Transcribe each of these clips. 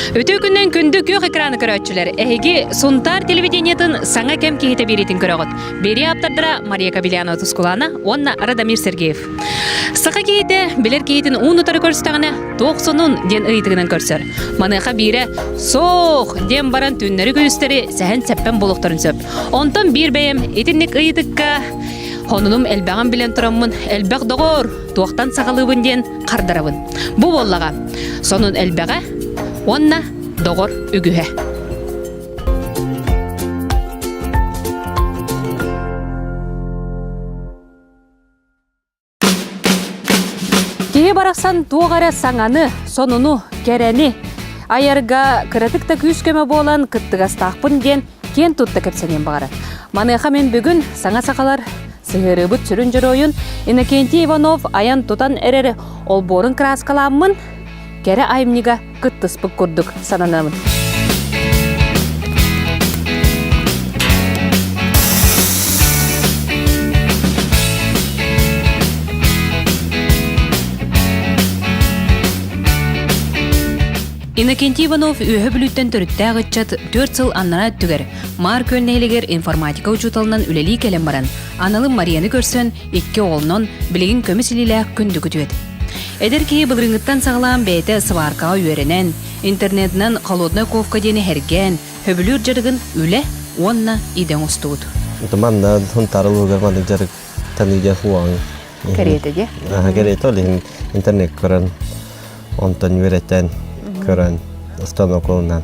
Үтүө күннэн күндү күөх экраны көрөөччүлэр, эһиги Сунтаар телевидениетын саҥа кэм киһитэ биэриитин көрөҕүт. Берия ааптардара Мария Кабелянова Тускулана уонна Радомир Сергеев. Саха киһитэ билэр киһитин уун утары көрсүтэҕинэ, туох сонун диэн ыйытыгынан көрсөр. Маныаха биирэ суох диэн баран түннэри-күнүстэри сэһэн-сэппэн буолуохтарын сөп. Онтон биир бэйэм итинник ыйытыкка Хонунум элбэҕин билэн тураммын, элбэх доҕоор, туохтан сахалыыбын диэн хардарабын. Бу буоллаҕа. Сонун элбэҕэ уонна доҕор үгүһэ. Киһи барахсан туох эрэ саҥаны, сонуну, кэрэни айарга кыратык да күүс-көмө буолан кыттыгастаахпын диэн киэн тутта кэпсэниэн баҕарар. Маныаха мин бүгүн саҥа сахалар сыһыарыыбыт сүрүн дьоруойун Иннокентий Иванов айан-тутан эрэр олбуорун кырааскаламмын кэрэ айымньыга кыттыспыт курдук сананыам. Иннокентий Иванов үөһэ бүлүүттэн төрүттээх ыччат түөрт сыл аннара өттүгэр Маар Күөл нэһилигэр информатика учууталынан үлэлии кэлэн баран, аналын Марияны көрсөн, Икки оҕолонон, билигин көмүс илиилээх күндү күтүөт. Эдэр киһи былырыыҥҥыттан саҕалаан бэйэтэ сыбааркаҕа үөрэнэн, интернетинэн холодная ковка диэни эргээн, хөбүлүүр дьарыгын үлэ уонна идэ оҥостубут. манна тарылыгар маны дьарык таныыга хуаң кэриэтиге кэриэтэ ол иһин интернет көрөн онтон үөрэтэн көрөн останоколунан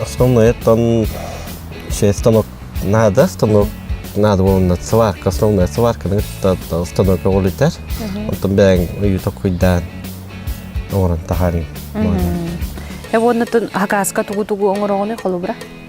Основное-то станок надо, станок надо буолна сварка, основная сварка станок оҕолитер. Оттон бэйэҥ ыйыта куйдаан оҥорон таһаарыҥ. Эбоннатын хакаска тугу-тугу оҥороҕуны холобура?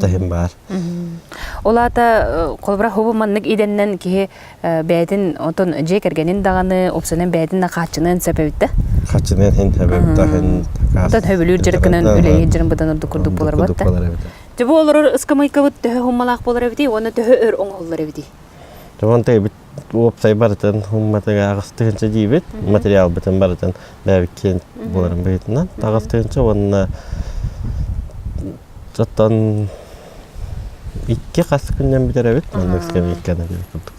таһым баар. Ол аата холобура хобу маннык идэннэн киһи бэйэтин отон дьиэ кэргэнин даҕаны, упсанын бэйэтин да хааччыныан сөп эбиттэ. Хааччыныан ин эбэбитэ ин Оттон хөбүлүүр дьарыкынан үлэлиир дьарым быдан ордук курдук болар бат. Төбө олорор ыскамыйкабыт төһө хуммалаах болар эбитий уонна төһө өр оҥоһуллар эбитий? Томонто эбит уопсай барытын умматыгаас тыһынча диибит материалбытын барытын бэбиккин буоларын быһытынан таҕыс тыһынча уонна оттон икки хас күннэн бүтэрэбит маннык кэбииккэнэн курдук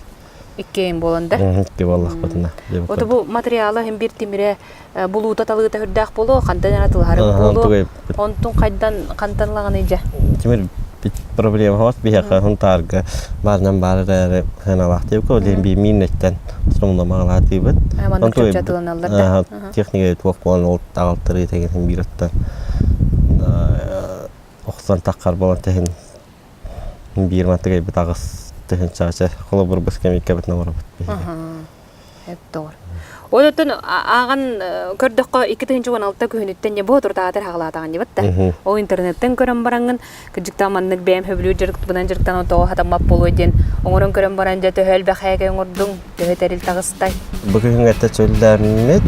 иккиэн буолан да икки буоллахпытына оту бу материала хин бир тимире булуута-талыыта үрдээх буолуо, хантан эрэ тылаһарык буолуо. Онтун хайдан хантан ылаҕын дьэ? Тимир проблема хос биһиэхэ хунтаарга баарынан баар эрээри хыналаахтыыбыт ол биимиин нөттен сумномаалаатыыбыт маннык чөпчө тыланаллар да техника туох буолан ол аҕалтарыы тегин биир оттон охсан таххар болон тэһин биир мантыгайбыт аҕыс тэһин чаача холобур быс кэмиккэбит наборабыт Тоҕор. Оттон ааҕан көрдөххө икки тыһыынча уон алта күһүнүттэн не бу туртаатар хаҕалаатаҕын дебатта. Ол интернеттен көрөн бараҥын, кырдьыктаан маннык бэйэм хөбүлүүр дьарыктыбынан дьарыктаан тоҕо хатаммат буолуой диэн оҥорон көрөн баран дьэ төһө элбэхээкэ оҥордуҥ, төһө тэрил таҕыстай. Бу күһүҥҥэ чөллөөммүт.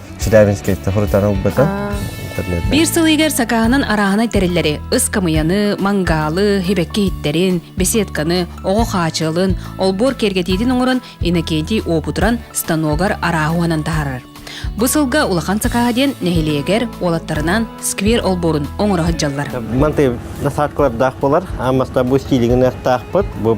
Челябинскай тохурутан ылбыта. Биир сыл ыйыгар сакааһынан арааһынай тэриллэри, ыскамыйаны, мангалы, хибэкки иһиттэрин, беседканы, оҕо хаачыалын, олбуор киэргэтиитин оҥорон Иннокентий уопутуран станогар арааһуанан таһарар. Бу сылга улахан сакааһа диэн нэһилиэгэр уолаттарынан сквер олбуорун оҥоро сылдьаллар. Мантый насадкалардаах болар, аммастар бу стилигин аттаахпыт, бу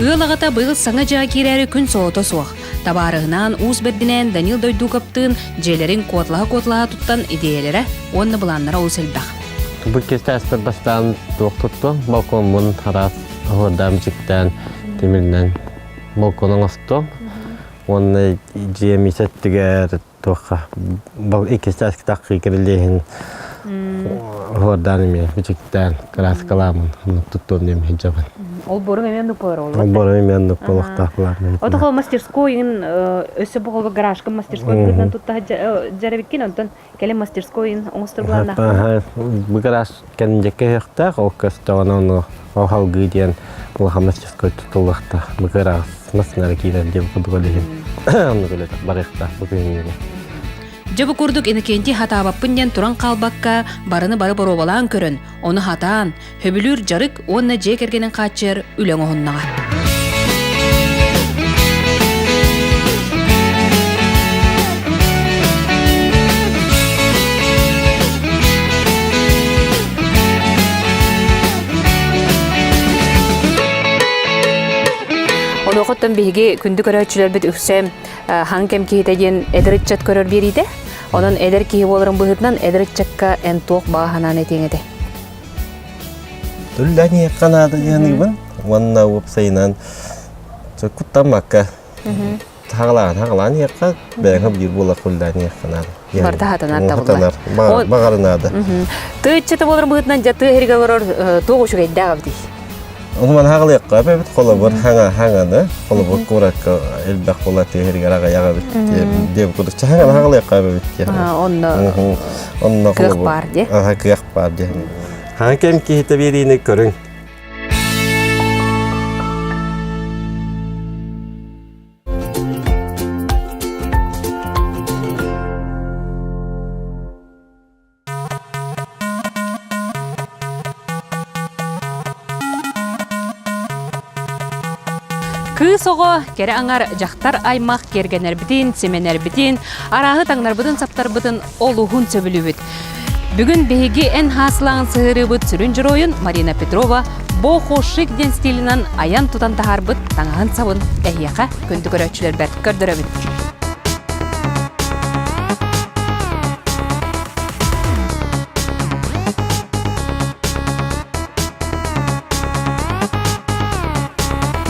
Ыал аҕата быйыл саҥа дьиэҕэ киирээри күн соҕото суох. Табаарыһынаан уус бэрдинээн Данил Дойдуковтыын дьиэлэрин куоталаһа-куоталаһа туттан идиэйэлэрэ уонна былааннара олус элбэх. Бу кэккэ астар бастаан туох тутту? Балкоммун араас аһыырдаан бичиктээн тимиринэн балкону оҥосту. Уонна дьиэ миис эттигэр Туохха был иккис чааскитак кирилиэһин хуордаан эмиэ бичиктээн кырааскаламын туттуон эмиэ дьабын. Ол борун эмиэ нукпалар ол. Ол борун эмиэ нукпалахтаахлаамын. Ото хол мастерской ин өссө бу хол гаражкын мастерской гынан тутта жарабиккин онтон кэлин мастерской ин оҥостурбулааннаах. Бу гараж Кэнники кэһиэхтээх, ол көстөҕүнэ ону ол халгыы диэн лохомасческой тутуллахта. Быкыраҕас нары киирэр диэн кудугар иһин. Ону күлөт барыахтаах бу күннүгэ. Дьабы курдук Иннокентий хатаабаппын диэн туран хаалбакка, барыны бары боруобалаан көрөн, ону хатаан, хөбүлүүр дьарык уонна дьиэ кэргэнин хааччыйар үлэ оҥоһуннаҕа. Онуохуттан биһиги күндү көрөөччүлэрбит үксэ хаҥ кэм киһитэ диэн эдэр ыччат көрөр биэриитэ. Онон эдэр киһи буоларын быһыытынан эдэр ыччакка эн туох баҕа санааны этиэҥ этэ? Үллэниэххэ наада дыаныыбын уонна уопсайынан куттаммакка хагалаан хагалаан иэххэ бэйэҥэ биир буолар хуллаан иэххэ наада барта хатанар табылар баҕарынаада тыыччыта болор быһытынан дьа тыа иһиргэ олорор туох үчүгэйдээх абытий Оны ман хагалыахха эбэбит холобур хаҥа хаҥа да холобур куракка элбэх бола тиһиригер ағаяға бит деп кудучча хаҥа хагалыахха эбэбит онно онно кыах бар де аха кыах баар диэн. Хаан кэм киһитэ биэриини көрүҥ. Кыыс оҕо кэрэ аңар дьахтар аймах киэргэнэрбитин, симэнэрбитин, арааһы таҥнарбытын-саптарбытын олуһун сөбүлүүбүт. Бүгүн биһиги эн хаасылаан сыһыарыыбыт сүрүн дьоруойун Марина Петрова «Бо хошик» диэн стилинэн айан-тутан таһаарбыт таҥаһын-сабын эһиэхэ күндү көрөөччүлэрбэр көрдөрөбүн.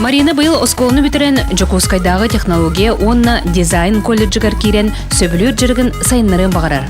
Марина быйыл оскуоланы бүтэрэн Дьокуускайдааҕы технология уонна дизайн колледжыгар киирэн сөбүлүүр дьарыгын сайыннарыан баҕарар.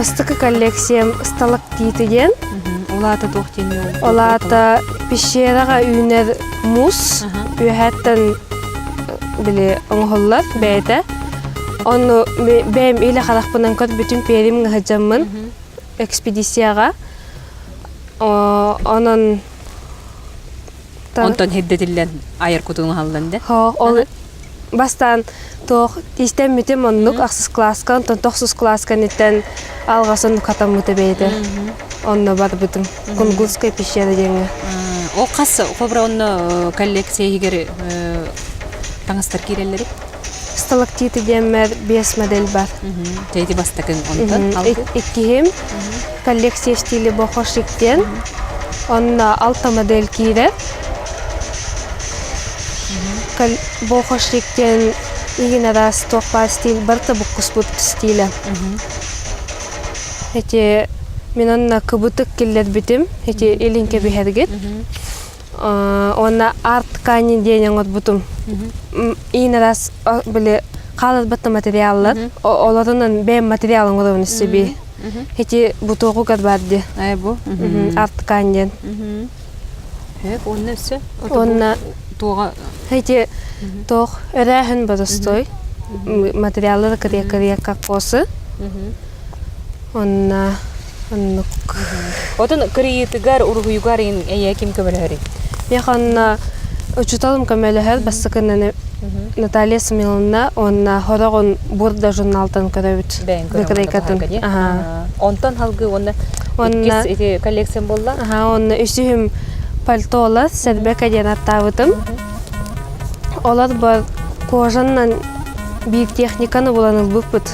бастакы коллекциям сталактиты диэн ол аата туох диэн ол аата пещераға үүнэр мусс үөһэттэн били оҥоһуллар бэйэтэ Онну бэйэм илэ харахпынан көрбүтүм первым ыһыдьаммын экспедицияҕа онон онтон hirдэтиллэн айар кутуҥ аһыллан да ол бастаан туох тиистэммитим оннук ахсыс кылааска онтон тохсус кылааска ниттэн алҕасын хатаммыта бэйэтэ онно барбытым кунгутская пещера диэҥҥэ ол хас хобра онно коллекция иһигэр таҥастар киирэллэрит сталактиты диэммэр биэс модель бар ити бастакын онтон иккиһим коллекция стили бохошик диэн онно алта модель киирэр бохошик диэн игин араас туохпаа стиль барыта буккуспут стилэ эти мен онно кыбытык киллэрбитим эти илин кэбиһэргит уонна арт-кани диэн оҥорбутум иин раз били хааларбатта материаллар олорунан бэйэм материал оҥоробун сиби ити бутуоҕугар баар дии айбу арт-кан диэн эк уонна өссө уонна туоҕа эти тоох өрөөһүн бодостой материаллары кырыа кырыа кокосы Онна оннук. Отун кырыйыытыгар, уруһуйугар эйээ ким көмөлөһөрүй? Миэхэ онно учууталым көмөлөһөр бастакынан Наталья Смиловна уонна Хороҕун Бурда журнаалтан көрөбүт. Бэйэҥ көрөмүн Онтон салгыы уонна иккис ити коллекциям буолла. Аха уонна үсүһүм пальто олор сэрбэ каден аттаабытым. Олор бар кожаннан биир техниканы булан ылбыппыт.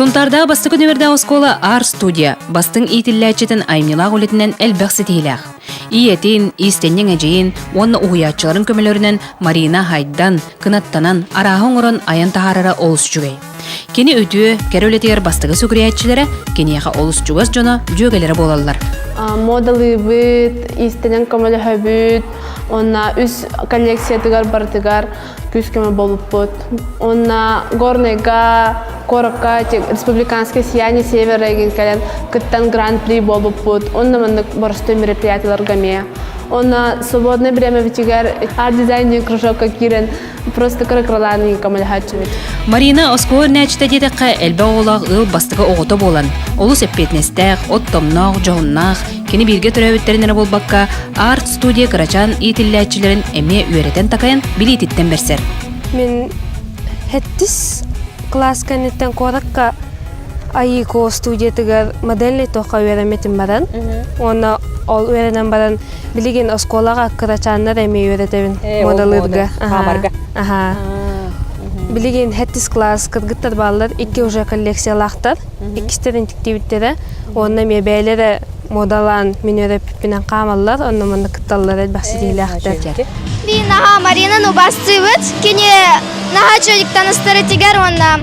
Сунтаардаах бастакы нөмірдээх оскуола Ар студия бастыҥ иитиллээччитин аймньылаах үлэтинэн элбэх ситиһиилээх. Ийэтин, иистэнньэҥ эдьиийин уонна уһуйааччыларын көмөлөрүнэн Марина Хайдан кынаттанан арааһы оҥорон айан таһаарара олус үчүгэй. Кини үтүө, кэрэ үлэтигэр бастакы сүгүрүйээччилэрэ киниэхэ олус чугас дьоно, дьүөгэлэрэ буолаллар. Модалыыбыт, иистэнэн көмөлөһөбүт, онно үс коллекциятыгар барытыгар күүс-көмө буолуппут. Уонна Горнайга, Корокка республиканское сияние Север регион кэлэн кыттан гран-при буолбуппут. Уонна маннык боростой мероприятияларга эмиэ. Уонна свободное время битигэр арт-дизайнер кружокка киирэн просто кыракыралаан көмөлөһөөччүбүт. Марина оскуола нээчтэ диэтэххэ элбэх оҕолоох ыал бастакы оҕото буолан олус эппиэтинэстээх, от тоҥноох, дьоһуннаах, Кини бииргэ төрөөбүттэрин эрэ буолбакка, арт-студия кырачаан иитиллээччилэрин эмиэ үөрэтэн-такайан билиититтэн барсар. Мин хэттис класс кэнниттэн куоракка Айыко студиятыгар модельный туохха үөрэммитим баран. Уонна ол үөрэнэн баран билигин оскуолаҕа кырачааннар эмиэ үөрэтэбин модалыырга. Аха. Билигин хэттис класс кыргыттар бааллар, икки уже коллекциялаахтар. Иккистэрин тиктибиттэрэ. Уонна эмиэ бэйэлэрэ модалаан мин өрөппүппүнэн хаамаллар, онно манна кытталлар элбэх ситиһиилээхтэр. Мин наһаа Маринаны убастыыбыт. Кини наһаа үчүгэйдик таныстарытыгар уонна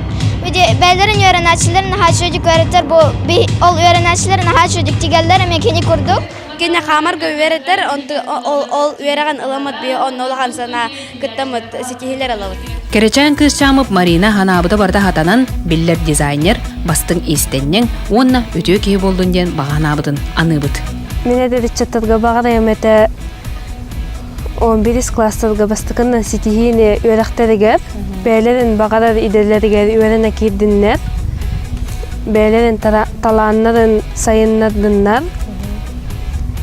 бэйэлэрин үөрэнээччилэр наһаа үчүгэйдик үөрэтэр бу ол үөрэнээччилэр наһаа үчүгэйдик тигэллэр эмиэ кини курдук. Кини хаамарга үөрэтэр, ол үөрэҕин ылыммыт бии онно улахан санаа кыттаммыт ситиһилэр алабыт. Кэрэчээн кыысчаамып Марина Ханаабыта барыта хатанан, биллэр дизайнер, бастыҥ иистэнньэҥ уонна үтүө киһи болдун диэн баҕаһынаабытын аныыбыт. Мин эдэриччэттэргэ баҕарайым этэ он бирис класстарга бастакына ситиһиини үөрэхтэригэр, бээлэрин баҕарар идэлэригэр үөрэнэ киирдиннэр, бээлэрин талааннарын сайыннардыннар,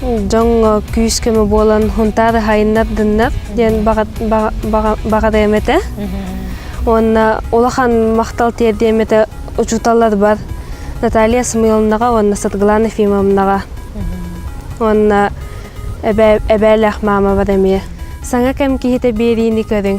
дьоҥҥо күүс-көмө буолан хунтаары хайыннардыннар диэн баҕарыам этэ. Уонна улахан махтал тиэрдиэм этэ учууталларбар Наталья Самуиловнаҕа уонна Саргылана Ефимовнаҕа. Уонна эбээлээх маамабар эмиэ. Саҥа кэм киһитэ биэриини көрүҥ.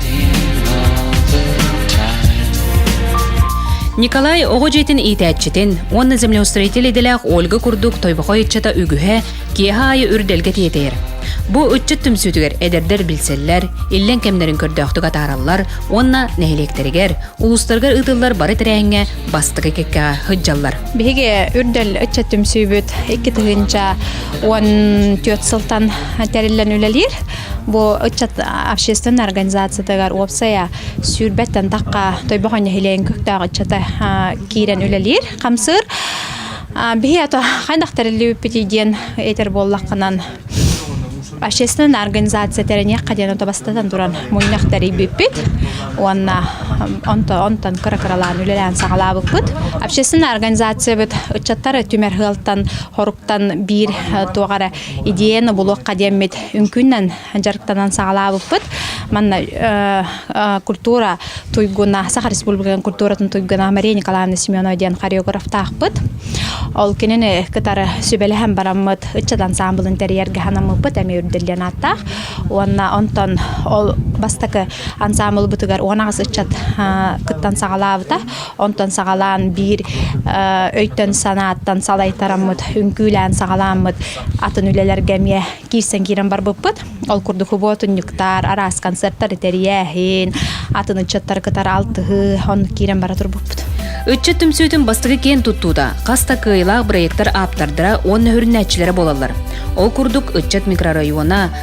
Николай оҕо дьиэтин иитээччитин уонна землеустроитель идэлээх Ольга курдук тойбохой ыччата үгүһэ киэһэ аайы үрдэлгэ тиэтэйэр. Бу ыччат түмсүүтүгэр эдэрдэр билсэллэр, иллэҥ кэмнэрин көрдөөхтүк атаараллар уонна нэһилиэктэригэр, улуустарыгар ыытыллар бары тэрээһиҥҥэ бастакы кэккэҕэ сылдьаллар. Биһиги үрдэл ыччат түмсүүбүт икки тыһыынча уон түөрт сылтан тэриллэн үлэлиир. Бу ыччат общественная организациятыгар уопсайа сүүрбэттэн тахха тойбохо нэһилиэгин көктөөх ыччата киирэн үлэлиир хамсыыр биһи ато хайдах тэриллибиппитий диэн этер буоллаххынан общественная организация тэрэниэххэ диэн ото бастатан туран мунньах тэрийбиппит уонна онто онтон кыра кыралаан үлэлээн саҕалаабыппыт общественная организациябыт ыччаттары түмэр хыалтан хоруктан биир туох эрэ идиэйэн обулуохха диэммит үҥкүннэн дьарыктанан саҕалаабыппыт манна культура туйгуна саха республикатын культуратын туйгуна мария николаевна семенова диэн хореографтаахпыт ол кинини кытары сүбэлэһэн бараммыт ыччат ансаамбылын тэрийэргэ ханаммыппыт эмиэ үрдэллиэн ааттаах уонна онтон ол бастакы ансаамбылбытыгар уон аҕыс ыччат кыттан саҕалаабыта Онтон саҕалаан биир өйтөн-санааттан салайтараммыт, үҥкүүлээн саҕалааммыт атын үлэлэргэ эмиэ киирсэн киирэн барбыппыт. Ол курдук худуотунньуктар, араас концертар тэрийээһин, атын ыччаттары кытары алтыһыы, оннук киирэн бара турбуппут. Ыччат түмсүүтүн бастакы киэн туттуута хас да кыайыылаах бырайыактар ааптардара уонна сүрүннээччилэрэ буолаллар. Ол курдук ыччат микрорайона,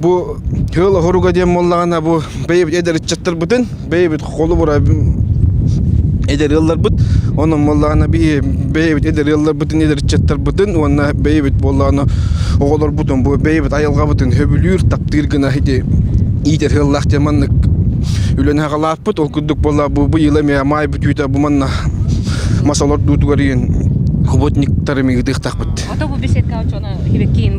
Бу ыал оһоруга диэн буоллаҕына бу бэйэбит эдэр ыччаттарбытын бэйэбит холобура эдэр ыалларбыт онон буоллаҕына бэйэбит эдэр ыалларбытын эдэр ыччаттарбытын уонна бэйэбит буоллаҕына оҕолорбутун бу бэйэбит айылҕабытын сөбүлүүр таптыыр гына ити иитэр ыаллаах диэн маннык үлэни хаҕалааппыт ол курдук буолла бу бу yılı эмиэ маай бүтүүтэ бу манна масалар дуутугар иин хоботниктары мигитиэхтахпыт ото бу беседка очоно хибеккиин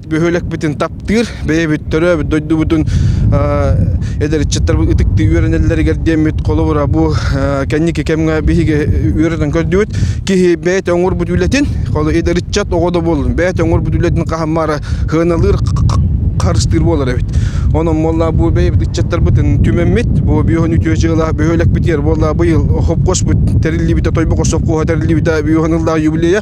бөһүөлэкпитин таптыыр, бэйэбит төрөөбүт дойдубутун эдэрчиттэрбит ытыктыы үөрэнэллэригэр диэммит холобура бу кэнники кэмҥэ биһиги үөрэтэн көрдүбүт киһи бэйэтэ оҥорбут үлэтин эдэрчат оҕо да буоллун бэйэтэ оҥорбут үлэтин хаһаммара сыаналыыр харыстыыр буолар эбит онон буолла бу бэйэбит ыччаттарбытын түмэммит бу биоһын үтүө дьыала бөһүөлэкпитигэр буолла быйыл хопкошпут тэриллибитэ тойбоко совхоһа тэриллибитэ биоһын ыллаах юбилея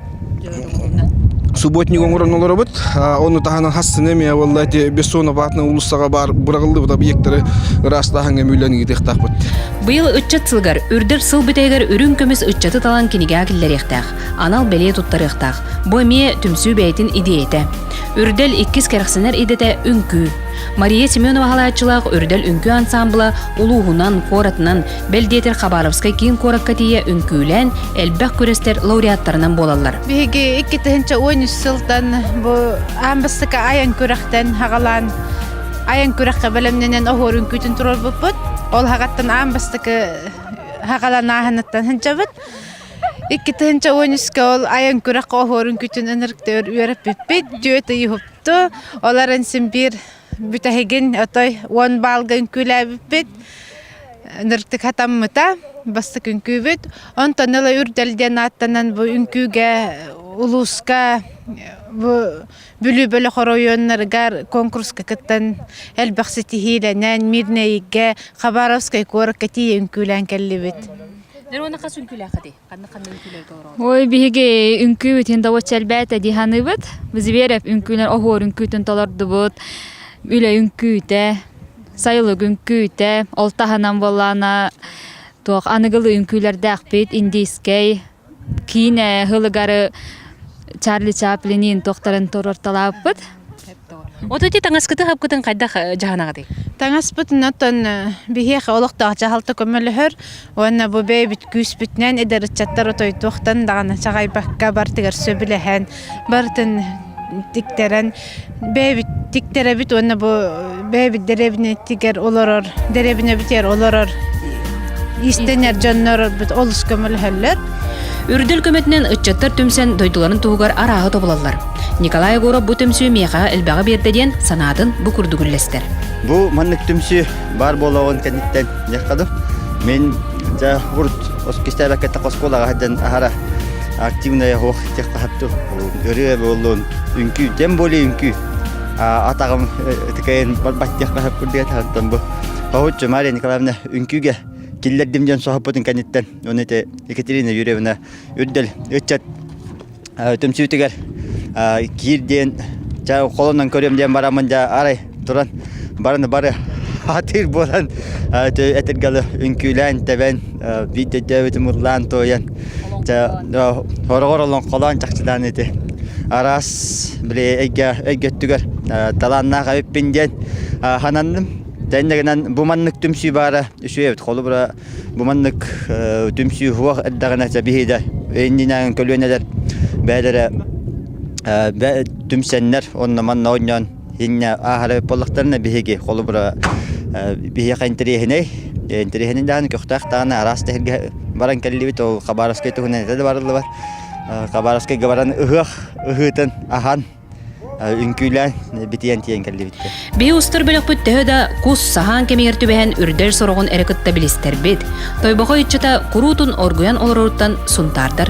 Субботник оҥорон олоробут. Ону таһынан хастыны эмиэ буолла эти Бессоноватна уулуссаҕа баар быраҕыллыбыт объектары ыраастааһыҥҥа мүллэн ыытыахтаахпыт. Быйыл ыччат сылыгар, үрдэр сыл бүтэригэр үрүҥ көмүс ыччаты талан кинигэҕэ киллэриэхтээх, анал бэлиэ туттарыахтаах. Бу эмиэ түмсүү бэйэтин идиэйэтэ. Үрдэл иккис кэрэхсэнэр идэтэ үҥкүү. Мария Семенова халааччылаах Үрдэл үҥкүү ансаамбыла улууһунан, куоратынан Бэл диэтэр Хабаровскай киин куоракка тиийэ үҥкүүлээн, элбэх күрэстэр лауреаттарынан буолаллар. Биһиги иккитинчэ уон үс сылтан бу аан бастакы айан күрэхтэн хагалаан айан күрэххэ бэлэмнэнэн оһуор үҥкүүтүн туруорбуппут. Ол хаҕаттан аан бастакы хагалан ааһынаттан хынчабыт. Иккитинче уон үскэ ол айан күрэх оһуорун күтүн ынырыктыр үөрэппиппит, дьүөт ыйыһыпты. Оларын син биир бүтэһигин отой уон баалга үҥкүүлээбиппит ныртык хатаммыта бастык үҥкүүбүт онтон ыла үрдэл диэн ааттанан бу үҥкүүгэ улууска бу Бүлүү бөлөх оройуоннарыгар конкурска кыттан элбэх ситиһиилэнэн Мирнэйгэ Хабаровскай куоракка тиийэ үҥкүүлээн кэллибит. Нэр уонна хас үҥкүүлээххитий? Ой, биһиги үҥкүүбүтүн добоччу элбээтэ дии саныыбыт. Зверев үҥкүүнэр оһуор үҥкүүтүн толордубут. Үлэ үҥкүүтэ, сайылык үҥкүүтэ, ол таһынан буоллаана туох аныгылыы үҥкүүлэрдээхпит, индийскэй, киинэ ыһылыгары Чарли Чаплинин туохтарын туруорталаабыппыт. Вот эти таңаскыты хапкытын хайдах жаһанаҕытый? Таңаспытын оттон биһиэхэ олохтоох дьаһалта көмөлөһөр уонна бу бэйэбит күүспүтүнэн эдэр ыччаттар отойдуохтан даҕаны чаҕайбакка бартыгар сөбүлэһэн барытын тиктэрэн бэйэбит тиктерэбит уонна бу бэйэбит дэрэбинэтигэр олорор дэрэбинэбитигэр олорор иистэнэр дьоннорбут олус көмөлөһөллөр Үрдэл көмөтүнэн ыччаттар түмсэн дойдуларын туһугар арааһы тобулаллар. Николай Егоров бу түмсүү миэхэҕэ элбэҕи биэрдэ диэн санаатын бу курдук үллэстэр. Бу маннык түмсүү баар буолуоҕун кэнниттэн дьахтадым. Мен за урт оскистээбэккэтэ оскуолаҕа сылдьан аһара активная ох техтаһатту ырыа буоллун үҥкүү тем более үҥкүү атаҕым ытыкайын баттиах баһап курдуга таһынтан бу хоһуччу Мария Николаевна үҥкүүгэ киллэрдим диэн соһуппутун кэнниттэн оны ити Екатерина Юрьевна үрдэл ыччат түмсүүтүгэр киир диэн ча холонон көрүөм диэн бараммын дьа арай туран бараны бары атыыр буолан этиргалы үҥкүүлээн тэбэн Видеодөөбүтүм ыллаан туойан хороҕор олоҥхолоон чахчылаан ити араас били эйгэ өйгө өттүгэр талааннаах эбиппин диэн сананным тэннэ гынан бу маннык түмсүү баара үчүгэй эбит холобура бу маннык түмсүү суох эрдэҕинэ сэбиһиидэ иннинээҕин көлүөнэлэр бэйэлэрэ түмсэннэр онно манна оонньоон Инна ааһары буоллахтарына биһиги холобура биһиэхэ интэриэһинэй интэриэһинэй даҕаны көхтөөх даҕаны араас таһырга баран кэллибит ол Хабаровскай туһунан этэ да барыллыбат Хабаровскайга баран ыһыах ыһыытын аһан үҥкүүлээн битийэн тиийэн кэллибиттэр Биһи устар бөлөхпүт төһө да кус саһаан кэмигэр түбэһэн үрдэл сороҕун эрэ кытта билистэрбит Тойбохой ыччата куруутун оргуйан олороруттан сунтаардар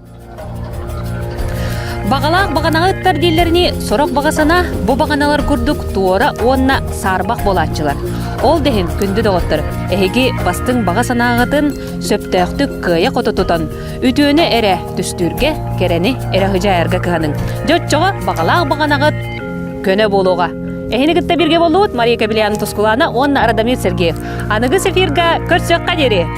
Баҕалаах баҕанаҕа ыттар дииллэринии, сорох баҕа санаа бу баҕаналар курдук туора уонна саарбах буолааччылар. Ол да иһин күндү доҕоттор, эһиги бастыҥ баҕа санааҕытын сөптөөхтүк кыайа-хото тутан, үтүөнү эрэ түстүүргэ, кэрэни эрэ ыһыдьаайарга кыһаныҥ. Дьэ оччоҕо баҕалаах баҕанаҕыт көнө буолуоҕа. Эһини кытта биргэ буоллубут Мария Кабелян Тускулана уонна Радамир Сергеев. Аныгы эфирга көрсүөххэ диэри!